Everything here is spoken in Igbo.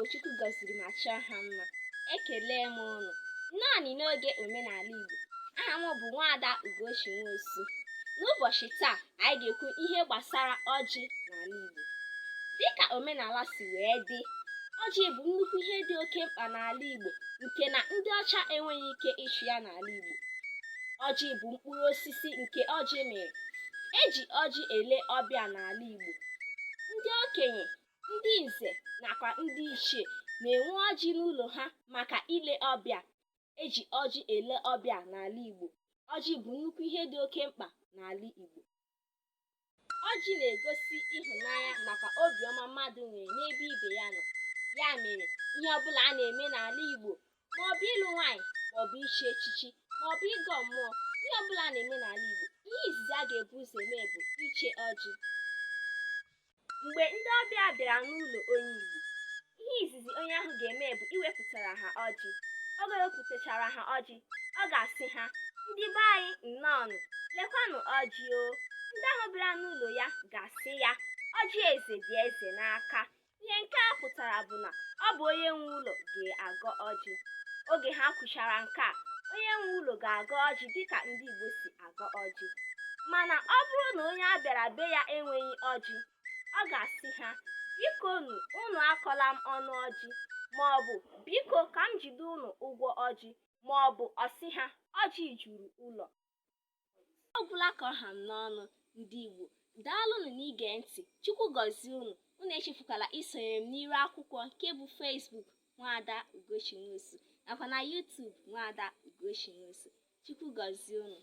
Igbo Chukwu gọziri ma chọọ ha mma ekele m unu nnọọnụ n'oge omenala Igbo aha m bụ nwaada Ugochi Nwosu n'ụbọchị taa anyị ga-ekwu ihe gbasara ọjị n'ala Igbo dịka omenala si wee dị ọjị bụ nnukwu ihe dị oke mkpa n'ala Igbo nke na ndị ọcha enweghị ike ịchụ ya n'ala Igbo ọjị bụ mkpụrụ osisi nke ọjị mịrị eji ọjị ele ọbịa n'ala Igbo ndị okenye ndị nze nakwa ndị ichie na-enwe ọjị n'ụlọ ha maka ile ọbịa eji ọjị ele ọbịa n'ala Igbo ọjị bụ nnukwu ihe dị oke mkpa n'ala Igbo ọjị na-egosi ịhụnanya nakwa obiọma mmadụ nwere n'ebe ibe ya nọ ya mere ihe ọbụla a na-eme n'ala Igbo maọbụ ịlụ nwaanyị maọbụ ichi echichi maọbụ ịgọ mmụọ ihe ọbụla a na-eme n'ala Igbo ihe izizi a ga-ebu ụzọ eme bụ iche ọjị Mgbe ndị ọbịa bịara n'ụlọ onye Igbo, ihe izizi onye ahụ ga-eme bụ iwepụtara ha ọjị. Oge o wepụtachara ha ọjị, ọ ga-asị ha, Ndị be anyị nnọọnụ, lekwanụ ọjị o. Ndị ahụ bịara n'ụlọ ya ga-asị ya, Ọjị eze dị eze n'aka. Ihe nke a pụtara bụ na ọ bụ onye nwe ụlọ ga-agọ ọjị. Oge ha kwuchara nke a, onye nwe ụlọ ga-agọ ọjị dịka ndị Igbo si agọ ọjị mana ọ bụrụ na onye a bịara be ya enweghị ọjị ọ ga-asị ha bikonu unu akọla m ọnụ ọjị maọbụ biko ka m jide unu ụgwọ ọjị maọbụ ọ sị ha ọjị juru ụlọ ọ gwụla ka ọ ha m n'ọnụ ndị Igbo daalụnụ n'ige ntị Chukwu gọzie unu unu echefukwala isonyere m n'iru akwụkwọ nke bụ Facebook nwaada Ugochi Nwosu nakwa na YouTube nwaada Ugochi Nwosu Chukwu gọzie unu